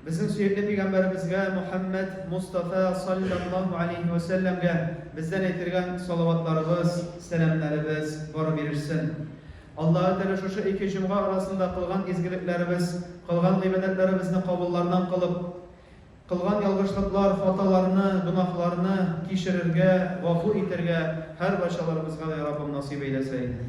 Безнең сөекле пигамбәребезгә Мухәммәд Мустафа салләллаһу алейһи вә сәлләмгә бездән әйтергән салаватларыбыз, сәламнәребез барып ирешсен. Аллаһы Тәгалә шушы ике җомга арасында кылган изгелекләребез, кылган гыйбадәтләребезне кабуллардан кылып, кылган ялгышлыклар, хаталарны, гөнаһларны кичерергә, гафу итәргә һәрбарчаларыбызга да, я Раббым, насыйп әйләсә иде.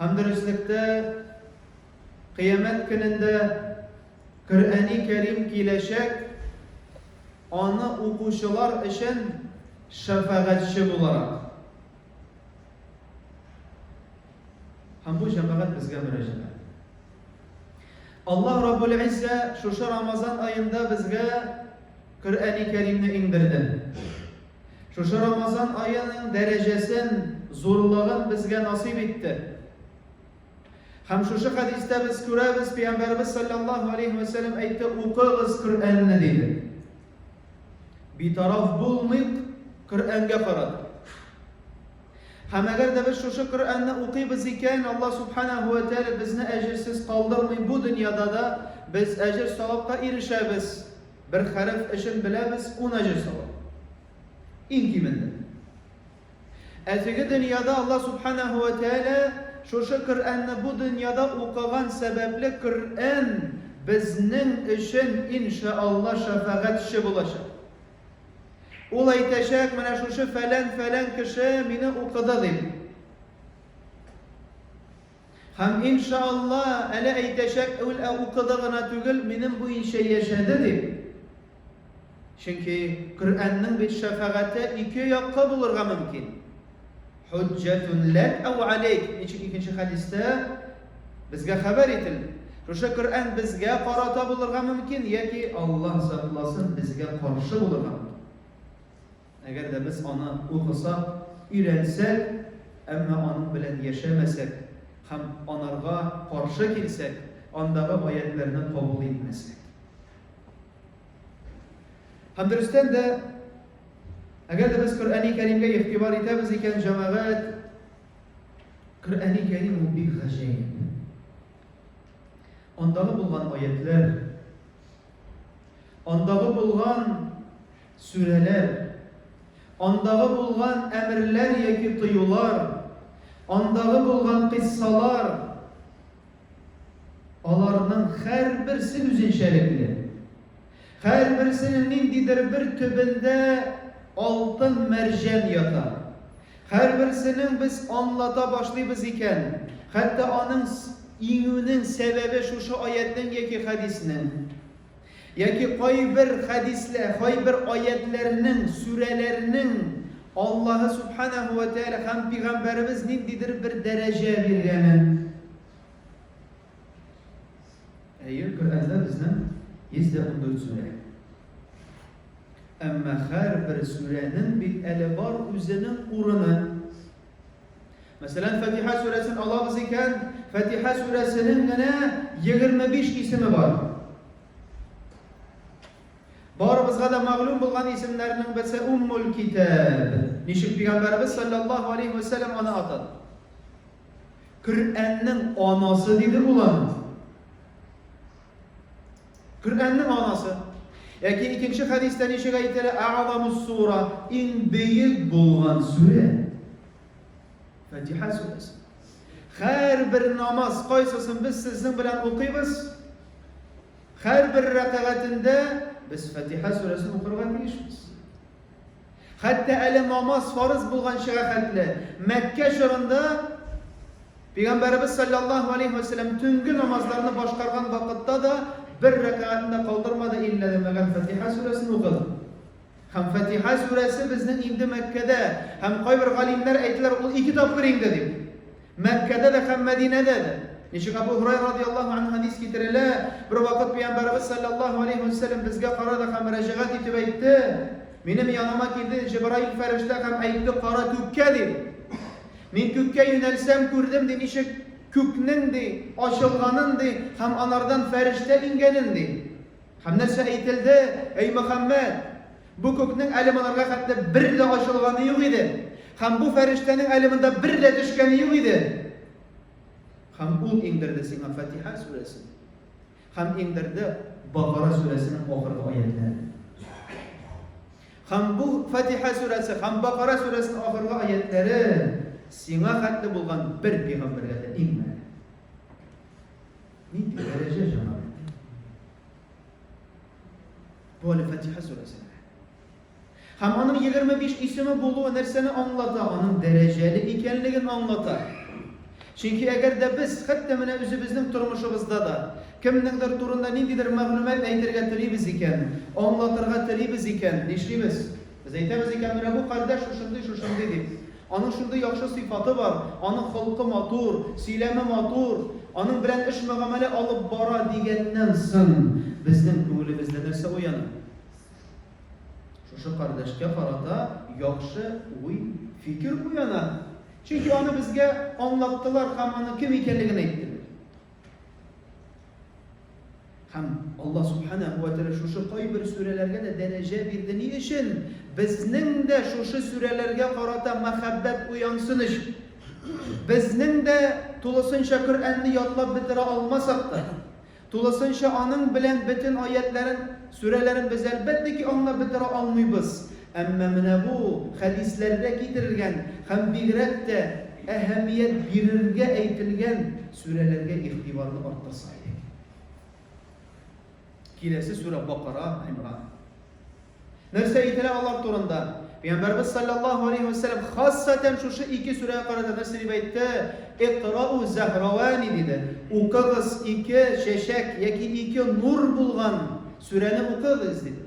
Һәм дөреслектә Кыямәт көнендә Коръәни Кәрим киләчәк, аны укучылар өчен шәфәгатьче буларак. Һәм бу җәмәгать безгә мөрәҗәгать. Аллаһ Раббул Иззә шушы Рамазан аенда безгә Коръәни Кәримне иңдерде. Шушы Рамазан аеның дәрәҗәсен, зурлыгын безгә насыйп итте. Һәм шушы хәдистә без күрәбез, Пәйгамбәрбез саллаллаһу алейхи ва сәлләм әйтте, укыгыз Коръәнне диде. Битараф булмыйк Коръәнгә карап. Һәм әгәр дә без шушы Коръәнне укыйбыз икән, Алла субханаһу ва тәгалә безне әҗерсез калдырмый бу дөньяда да без әҗер савапка ирешәбез. Бер хәреф өчен беләбез ун әҗер савап. Иң кимендә. Ә теге дөньяда Аллаһ Субханаһу ва Тәгалә шушы Коръәнне бу дөньяда укыган сәбәпле Коръән безнең өчен иншаалла шәфәгатьче булачак. Ул әйтәчәк, менә шушы фәлән-фәлән кеше мине укыды дип. Һәм, ин ша Алла, әле әйтәчәк үл ә укыды гына түгел, минем буенча яшәде, дип. Чөнки Коръәннең бит шәфәгате ике якка булырга мөмкин. Хуҗҗәтун ләк ау алейк. Ничек икенче хәдистә безгә хәбәр ителде. Шушы Коръән безгә карата булырга мөмкин, яки Аллаһ сакласын, безгә каршы булырга мөмкин. Әгәр дә без аны укысак, өйрәнсәк, әмма аның белән яшәмәсәк һәм анарга каршы килсәк, андагы аятьләрне кабул итмәсәк. Һәм дөрестән дә, әгәр дә без Коръәни Кәримгә игътибар итәбез икән, җәмәгать, Коръәни Кәрим ул бик гаҗәеп. Андагы булган аятьләр, андагы булган Сүрәләр, андагы булган әмерләр яки тыюлар, андагы булган кыйссалар, аларның һәрберсе үзенчәлекле. Һәрберсенең ниндидер бер төбендә алтын мәрҗән ята. Һәрберсенең без аңлата башлыйбыз икән, хәтта аның иңүнең сәбәбе шушы аятның яки хәдиснең. Яки кайбер хәдисләр, кайбер аятьләрнең, сүрәләрнең Аллаһы Субханәһү вә Тәгалә һәм Пигамбәребез ниндидер бер дәрәҗә биргәнен. Әйе, Коръәндә безнең 114 сүрә. Әмма һәрбер сүрәнең бит әле бар үзенең урыны. Мәсәлән, Фатиха сүрәсен алабыз икән, Фатиха сүрәсенең генә 25 исеме бар. Барыбызга да мәгълүм булган исемнәрнең берсе Уммул Китаб. Ничек пәйгамбәрбез саллаллаһу алейхи ва саллям аны атады? Коръәннең анасы диде булан. Коръәннең анасы. Яки икенче хәдистә ничек әйтелә? А'замус сура, иң бөек булган сүрә. Фатиха сүрәсе. Һәрбер намаз кайсысын без сезнең белән укыйбыз? Һәрбер рәкагатендә без Фатиха сүрәсен укырга тиешбез. Хәтта әле намаз фарыз булганчыга хәтле Мәккә чорында Пәйгамбәребез салләллаһу алейһи вә сәлләм төнге намазларны башкарган вакытта да бер рәкәгатен дә калдырмады, иллә дә мәгәр Фатиха сүрәсен укыды. Һәм Фатиха сүрәсе безнең инде Мәккәдә, һәм кайбер галимнәр әйтәләр, ул ике тапкыр инде дип. Мәккәдә дә һәм Мәдинәдә дә. Ничек Абу Һурайра радиаллаһу анһу хәдис китерелә, бер вакыт Пәйгамбәребез саллаллаһу алейһи вә сәлләм безгә карады һәм мөрәҗәгать итеп әйтте, Минем яныма килде Җибраил фәрештә һәм әйтте, Кара күккә, ди. Мин күккә юнәлсәм, күрдем, ди, ничек күкнең, ди, ачылганын, ди, һәм анардан фәрештә иңгәнен, ди. Һәм нәрсә әйтелде, әй Мөхәммәд? Бу күкнең әле монарга хәтле бер дә ачылганы юк иде. Һәм бу фәрештәнең әле монда бер дә төшкәне юк иде. Һәм ул иңдерде сиңа Фатиха сүрәсен. Һәм иңдерде Бакара сүрәсенең ахыргы аятләрен. Һәм бу Фатиха сүрәсе һәм Бакара сүрәсенең ахыргы аятләре сиңа хәтле булган бер пигамбәргә дә иңмәде. Нинди дәрәҗә җанап итте? Бу әле Фатиха сүрәсе. Һәм аның 25 исеме булуы нәрсәне аңлата? Аның дәрәҗәле икәнлеген аңлата. Чөнки әгәр дә без хәтта менә үзебезнең тормышыбызда да кемнеңдер турында ниндидер мәгълүмат әйтергә телибез икән, аңлатырга телибез икән, нишлибез? Без әйтәбез икән, менә бу кардәш шушындый, шушындый дип. Аның шундый яхшы сыйфаты бар, аның холкы матур, сөйләме матур, аның белән эш-мөгамәлә алып бара дигәннән соң, безнең күңелебездә нәрсә уяна? Шушы кардәшкә карата яхшы уй, фикер уяна. Чөнки аны безгә аңлаттылар һәм аның кем икәнлеген әйттеләр. Һәм Алла Субханәһу ва Тәгалә шушы кайбер сүрәләргә дә дәрәҗә бирде. Ни өчен? Безнең дә шушы сүрәләргә карата мәхәббәт уянсын өчен. Безнең дә тулысынча Коръәнне ятлап бетерә алмасак та, тулысынча аның белән бөтен аятларын, сүрәләрен без әлбәттә ки аңлап бетерә алмыйбыз. Әмма менә бу хәдисләрдә китерелгән һәм бигрәк тә әһәмият бирергә әйтелгән сүрәләргә игътибарны арттырса идек. Киләсе сүрә Бакара, Имран. Нәрсә әйтелә алар турында? Пәйгамбәрбез саллаллаһу алейхи ва саллям хассатан шушы ике сүрәгә карата нәрсә дип әйтте? Иқрау зәһравани диде. Укыгыз ике чәчәк яки ике нур булган сүрәне укыгыз диде.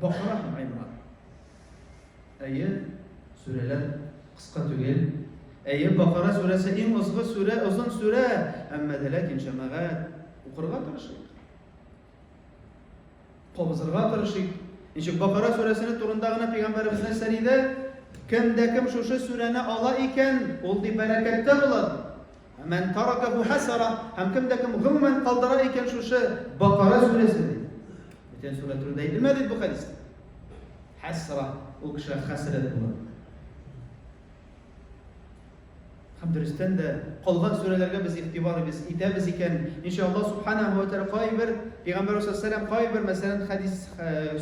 Бакара һәм Аймар. Әйе, сүрәләр кыска түгел. Әйе, Бакара сүрәсе иң озгы сүрә, озын сүрә, әмма дә ләкин җәмәгать укырга тырышыйк. Кабызырга тырышыйк. Ничек Бакара сүрәсенең турында гына пәйгамбәребезнең сәриде кемдә кем шушы сүрәне ала икән, ул ди бәрәкәттә була. Ә мән таракәһү хәсара, һәм кем дә кем гомумән калдыра икән шушы Бакара сүрәсен. Бүтән сүрә турында әйтелмә бит бу хәдис. Хәсра, ул кеше хәсрәт булыр. Һәм дөрестән дә калган сүрәләргә без игътибар без итәбез икән, иншалла субханаһу ва тааля кайбер пәйгамбәр саллаллаһу алейһи ва сәлләм кайбер мәсәлән хәдис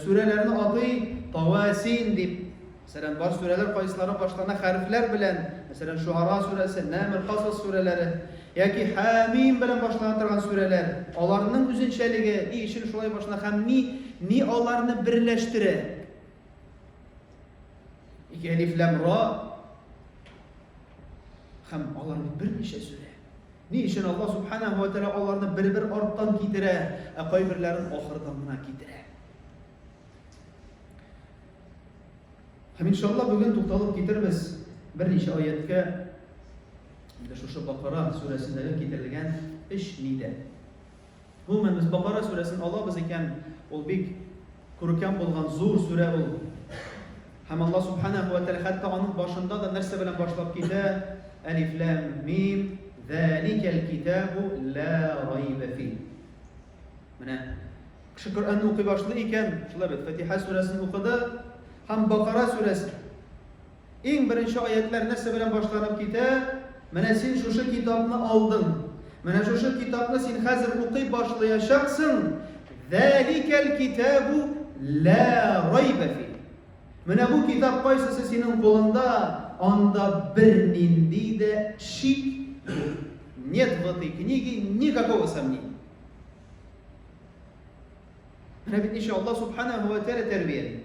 сүрәләрне атый, тавасин дип Мәсәлән, бар сүрәләр кайсылары башлана хәрефләр белән, мәсәлән, Шуара сүрәсе, Нәмл, Касас сүрәләре, яки Хәмим белән башлана торган сүрәләр, аларның үзенчәлеге, ни өчен шулай башлана һәм ни, ни аларны берләштерә? Ике әлиф ләм ра һәм алар бит берничә сүрә. Ни өчен Аллаһ субханаһу ва тәгалә аларны бер-бер арттан китерә, ә кайберләрен ахырдан гына китерә? Һәм иншалла бүген тукталып китербез берничә аяткә. Инде шушы Бакара сүрәсендәге китерелгән эш нидә? Гомумән без Бакара сүрәсен алабыз икән, ул бик күркәм булган зур сүрә ул. Һәм Алла субхана ва тәгалә хәтта аның башында да нәрсә белән башлап китә? Алиф лам мим, заликәл китабу ла райба фи. Менә кеше Коръәнне укый башлый икән, шулай бит, Фатиха сүрәсен укыды һәм Бакара сүрәсе. Иң беренче аятлар нәрсә белән башланып китә? Менә син шушы китапны алдың. Менә шушы китапны син хәзер укый башлаячаксың. Зәликәл китабу ла райба фи. Менә бу китап кайсысы синең кулыңда, анда бернинди дә шик юк. Нет в этой книге никакого сомнения. Менә бит ничә Аллаһ субханаһу ва тәгалә тәрбияли.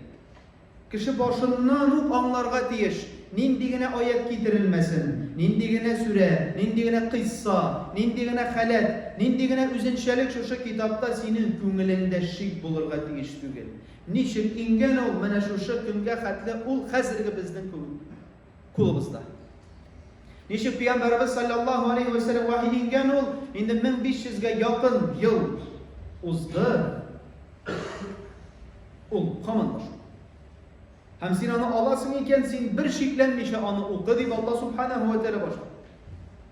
Кеше башыннан ук аңларга тиеш, нинди генә аят китерелмәсен, нинди генә сүрә, нинди генә кыйсса, нинди генә халәт, нинди генә үзенчәлек шушы китапта синең күңелеңдә шик булырга тиеш түгел. Ничек иңгән ул менә шушы көнгә хәтле ул хәзерге безнең кулыбызда? Ничек пәйгамбәрбез саллаллаһу алейхи ва саллям вахи иңгән ул инде 1500 га якын ел узды. Ул каман башы. Һәм син аны аласың икән, син бер шикләнмичә аны укы дип Алла субханаһу ва тәгалә башлады.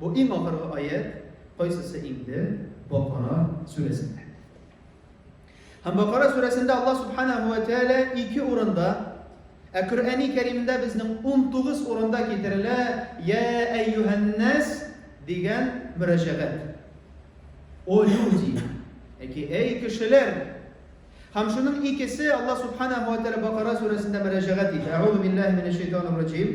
Бу иң ахыргы аять, кайсысы инде? Бакара сүрәсендә. Һәм Бакара сүрәсендә Алла субханаһу ва тәгалә ике урында Ә Коръәни Кәримдә безнең 19 урында китерелә Я әйюһәннәс дигән мөрәҗәгать. О люди, яки әй кешеләр. Һәм шуның икесе Алла субханаһу ва тәгалә Бакара сүрәсендә мөрәҗәгать итә. Әгъузу биллаһи минәш шайтанир раҗим.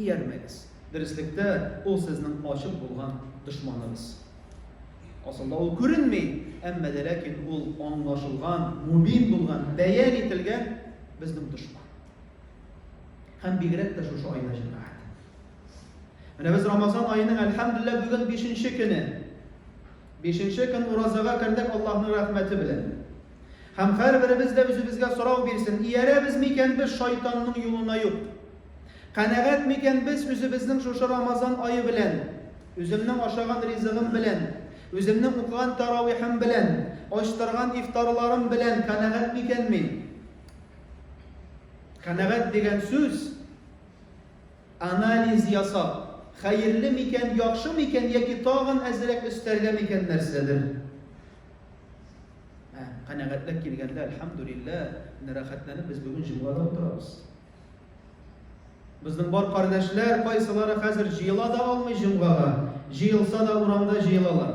Иярмәгез. Дөреслектә, ул сезнең ачык булган дошманыгыз. Асылда ул күренми, әмма дә ләкин ул аңлашылган, мубин булган, бәян ителгән безнең дошман. Һәм бигрәк тә шушы айда җәмәгать. Менә без Рамазан аеның әлхәмдулилла бүген 5 көне. 5 көн уразага кердек Аллаһның рәхмәте белән. Һәм һәрберебез дә үзебезгә сорау бирсен, иярәбез микән без шайтанның юлына юк? Канәгать микән без үзебезнең шушы Рамазан ае белән, үземнең ашаган ризыгым белән, үземнең укыган таравихым белән, ачтырган ифтарларым белән канәгать микән мин? Канәгать дигән сүз анализ ясап, хәерле микән, яхшы микән яки тагын әзрәк өстәргә микән нәрсәдер? Ә, канәгатьлек килгәндә, әлхәмдүлилләһ, менә рәхәтләнеп без бүген җомгада утырабыз. Безнең бар кардәшләр, кайсылары хәзер җыела да алмый җомгага, җыелса да урамда җыелалар.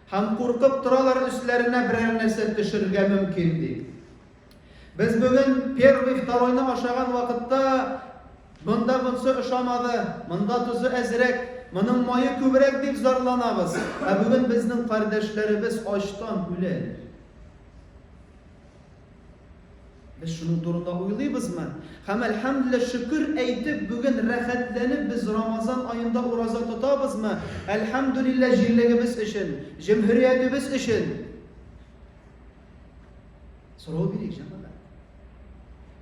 Һәм куркып торалар, өсләренә берәр нәрсә төшергә мөмкин дип. Без бүген первый-второйны ашаган вакытта монда монсы ошамады, монда тозы әзрәк, моның мае күбрәк дип зарланабыз. Ә бүген безнең кардәшләребез ачтан үлә. Без шуның турында уйлыйбызмы? Һәм әлхәмдүлилләһ шөкер әйтеп, бүген рәхәтләнеп без Рамазан аенда ураза тотабызмы? Әлхәмдүлилләһ җирлегебез өчен, җөмһүриятебез өчен. Сорау бирик, җәмәгать.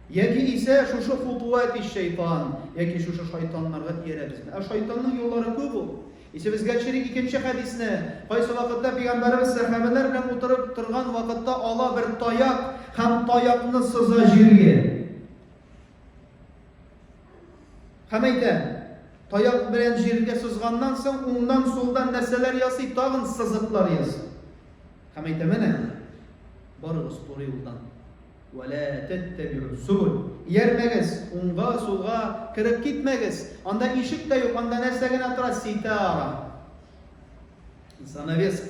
Яки исә шушы хутуат ис шайтан, яки шушы шайтаннарга иярәбезме? Ә шайтанның юллары күп ул. Исә безгә чирик икенче хәдисне, кайсы вакытта пәйгамбәребез сәхабәләр белән утырып торган вакытта ала бер таяк һәм таякны сыза җиргә. Һәм әйтә, Таяк белән җиргә сызганнан соң, уңнан, сулдан нәрсәләр ясый, тагын сызыклар ясый. Һәм әйтә, менә, барыгыз туры юлдан. Вәлә тәттәбирү зубул. Иярмәгез, уңга, сулга кереп китмәгез. Анда ишек тә юк, анда нәрсә генә тора, ситара. Занавес.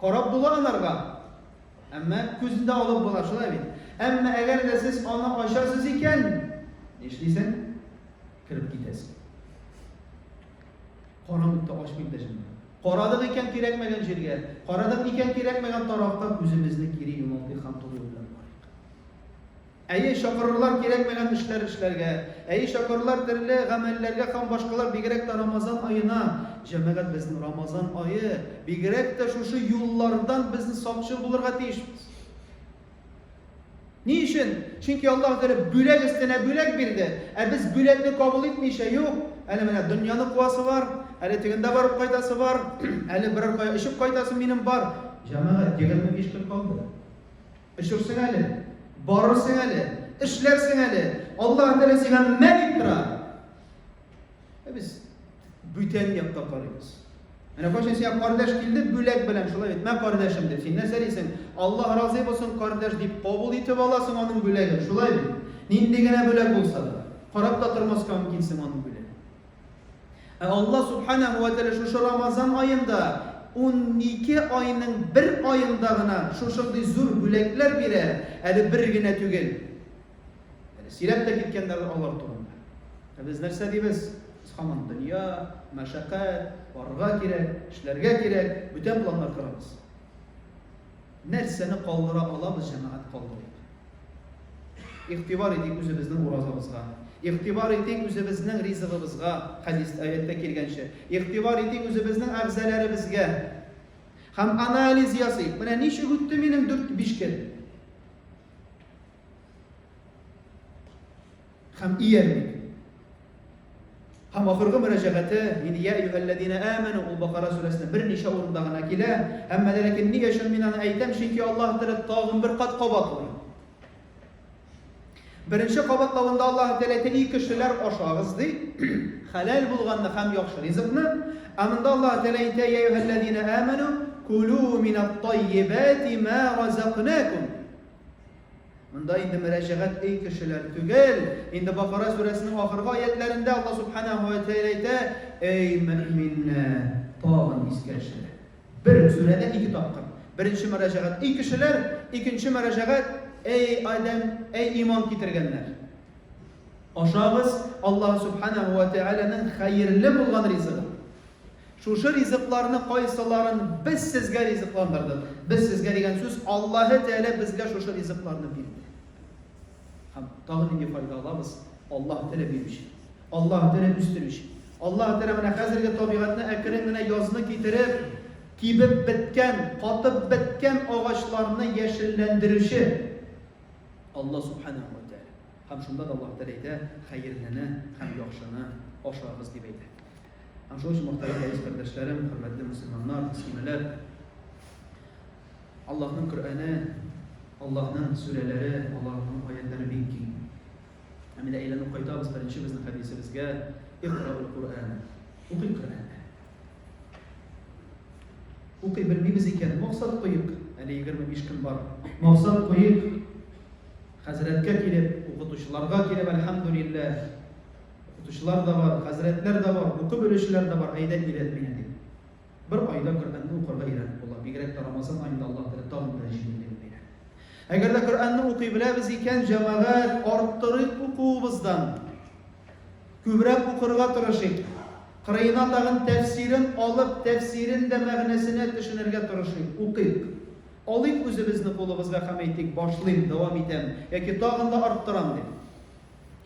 Карап була анарга. Әмма күзен дә алып була, шулай бит? Әмма әгәр дә сез аны ачасыз икән, нишлисең? Кереп китәсең. Карамыйк та ачмыйк та җимә. Карадык икән кирәкмәгән җиргә, карадык икән кирәкмәгән тарафка күзебезне кире юналтыйк һәм туры юл белән барыйк. Әйе, чакырырлар кирәкмәгән эшләр эшләргә, әйе, чакырырлар төрле гамәлләргә һәм башкалар, бигрәк тә Рамазан аена. Җәмәгать, безнең Рамазан ае, бигрәк тә шушы юллардан без сакчыл булырга тиешбез. Ни өчен? Чөнки Аллаһ Тәгалә бүләк өстенә бүләк бирде, ә без бүләкне кабул итмичә, юк, әле менә дөньяны куасы бар, әле тегендә барып кайтасы бар, әле берәр кая очып кайтасы минем бар. Җәмәгать, 25 көн калды. Өшерсең әле, барырсың әле, эшләрсең әле. Аллаһ Тәгалә сиңа мә дип тора. Ә без бүтән якка карыйбыз. Менә кайчан сиңа кардәш килде, бүләк белән шулай бит. Мә кардәшем дип, син нәрсә дисең? Аллаһ разый булсын, кардәш дип кабул итеп аласың аның бүләген. Шулай бит. Нинди генә бүләк булса да, карап та тормаска мөмкинсең аның бүләген. Ә Аллаһ Субханәһу вә Тәгалә шушы Рамазан аенда унике айның бер аенда гына шушындый зур бүләкләр бирә, әле бер генә түгел. Әле сөйләп тә киткәннәр алар турында. Ә без нәрсә дибез? Без һаман дөнья, мәшәкать, барырга кирәк, эшләргә кирәк, бүтән планнар корабыз. Нәрсәне калдыра алабыз, җәмәгать, калдырыйк. Игътибар итик үзебезнең уразабызга. Игътибар итик үзебезнең ризыгыбызга, хәдис, аятьтә килгәнчә. Игътибар итик үзебезнең әгъзаләребезгә. Һәм анализ ясыйк. Менә ничек үтте минем дүрт-биш көн? Хәм иярмик. Хәм ахыргы мөрәҗәгате, ин я юһәлләдина әмәну, ул Бакара сүрәсенә бер ничә урында гына килә. Һәм мәләкин нигә өчен мин аны әйтәм, чөнки Аллаһ Тәгалә тагын бер кат кабатлый. Беренче кабатлавында Аллаһ Тәгалә әйтә, ий кешеләр, ашагыз ди. Хәләл булганны һәм яхшы ризыкны. Ә монда Аллаһ Тәгалә әйтә, я юһәлләдина әмәну, кулу минат таййибати ма разакнакум. Монда инде мөрәҗәгать ый кешеләр түгел. Инде Бакара сүрәсенең ахыргы аятләрендә Алла Субханаһу ва Тәгалә әйтә, Эй мөэминнәр, тагын искә төшерәм. Бер сүрәдә ике тапкыр. Беренче мөрәҗәгать ый кешеләр, икенче мөрәҗәгать эй адәм, эй иман китергәннәр. Ашагыз Алла Субханаһу ва Тәгаләнең хәерле булган ризыгы. Шушы ризыкларны кайсыларын без сезгә ризыкландырдык? Без сезгә дигән сүз, Аллаһы Тәгалә безгә шушы ризыкларны бирде. Һәм тагы нинди файда алабыз? Аллаһы Тәгалә бирүче. Аллаһы Тәгалә үстерүче. Аллаһы Тәгалә менә хәзерге табигатьне әкрен генә язны китереп, кибеп беткән, катып беткән агачларны яшелләндерүче Аллаһ Субханаһу ва Тәгалә. Һәм шунда да Аллаһы Тәгалә әйтә, Хәерлене һәм яхшыны ашагыз, дип әйтә. Һәм шуның өчен мөхтәрәм рәис кардәшләрем, хөрмәтле мөселманнар, мөслимәләр, Аллаһның Коръәне, Аллаһның сүрәләре, Аллаһның аятлары бик киң. Һәм менә әйләнеп кайтабыз беренче безнең хәдисебезгә, Иқраул Коръән. Укый Коръән. Укый белмибез икән, максат куйык. Әле 25 көн бар. Максат куйык. Хәзрәткә килеп, укытучыларга килеп, әлхәмдүлилләһ. Укытучылар да бар, хәзрәтләр дә бар, укып белүчеләр дә бар, әйдә өйрәт мине, дип. Бер айда Коръәнне укырга өйрәнеп була, бигрәк тә Рамазан аенда Аллаһ теләп тагын да җиңеллеген бирә. Әгәр дә Коръәнне укый беләбез икән, җәмәгать, арттырыйк укуыбыздан. Күбрәк укырга тырышыйк. Кырыена тагын тәфсирен алып, тәфсирен дә мәгънәсенә төшенергә тырышыйк, укыйк. Алыйк үзебезне кулыбызга һәм әйтик, башлыйм, дәвам итәм яки тагын да арттырам дип.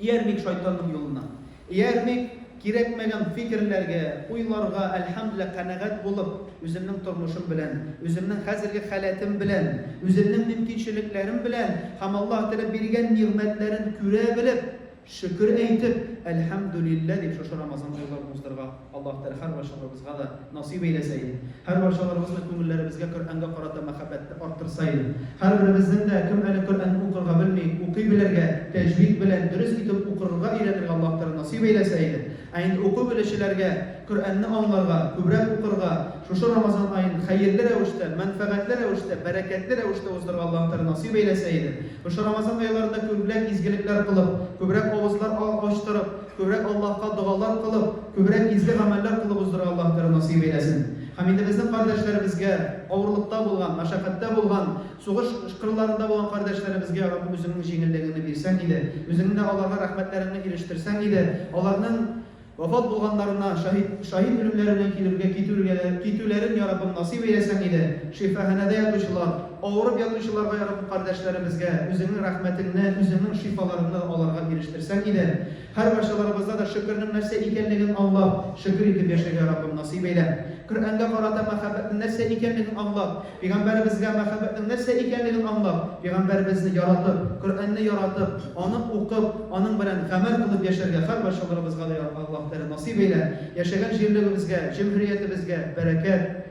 Иярмик шайтанның юлына. Иярмик кирәкмәгән фикерләргә, уйларга, әлхәмдүлилләһ, канәгать булып, үземнең тормышым белән, үземнең хәзерге халәтем белән, үземнең мөмкинчелекләрем белән һәм Аллаһ Тәгалә биргән нигъмәтләрен күрә белеп, шөкер әйтеп, әлхәмдүлилләһ дип шушы Рамазанда уйларны уздырырга. Аллаһ Тәгалә һәрварчаларыбызга да насыйп әйләсә иде. Һәрварчаларыбызның күңелләребезгә Коръәнгә карата мәхәббәтне арттырса иде. Һәрберебезнең дә кем әле Коръәнне укырга белми, укый белергә, тәҗвид белән дөрес итеп укырырга өйрәнергә Аллаһ Тәгалә насыйп әйләсә иде. Ә инде уку белүчеләргә Коръәнне аңларга, күбрәк укырга, шушы Рамазан аен хәерле рәвештә, мәнфәгатьле рәвештә, бәрәкәтле рәвештә уздырырга Аллаһ Тәгалә насыйп әйләсә иде. Шушы Рамазан айларында күбрәк изгелекләр кылып, күбрәк авызлар ачтырып, Күрә Аллаһка догалар кылып, күбрәк изге гамәлләр кылып уздыра Аллаһ Тәгалә насыйп әйләсен. Һәм инде безнең кардәшләребезгә, авырлыкта булган, мәшәкатьтә булган, сугыш кырларында булган кардәшләребезгә, Раббым, Үзеңнең җиңеллегеңне бирсәң иде, Үзеңне дә аларга рәхмәтләреңне ирештерсәң иде, аларның вафат булганнарына, шаһит, шаһит үлемнәре белән килүгә, китүлгә, китүләрен, я Раббым, насыйп әйләсәң иде, шифаханәдә ятучылар, Авырып ятучыларга ярдәм кардәшләребезгә Үзеңнең рәхмәтеңне, Үзеңнең шифаларыңны аларга ирештерсәң иде. Һәркайсыларыбызда да шөкернең нәрсә икәнлеген аңлап, шөкер итеп яшәргә Раббым насыйп әйлә. Коръәнгә карата мәхәббәтнең нәрсә икәнлеген аңлап, пигамбәребезгә мәхәббәтнең нәрсә икәнлеген аңлап, пигамбәребезне яратып, Коръәнне яратып, аны укып, аның белән гамәл кылып яшәргә һәркайсыларыбызга да Аллаһ Тәгалә насыйп әйлә. Яшәгән җирлегебезгә, җөмһүриятебезгә бәрәкәт.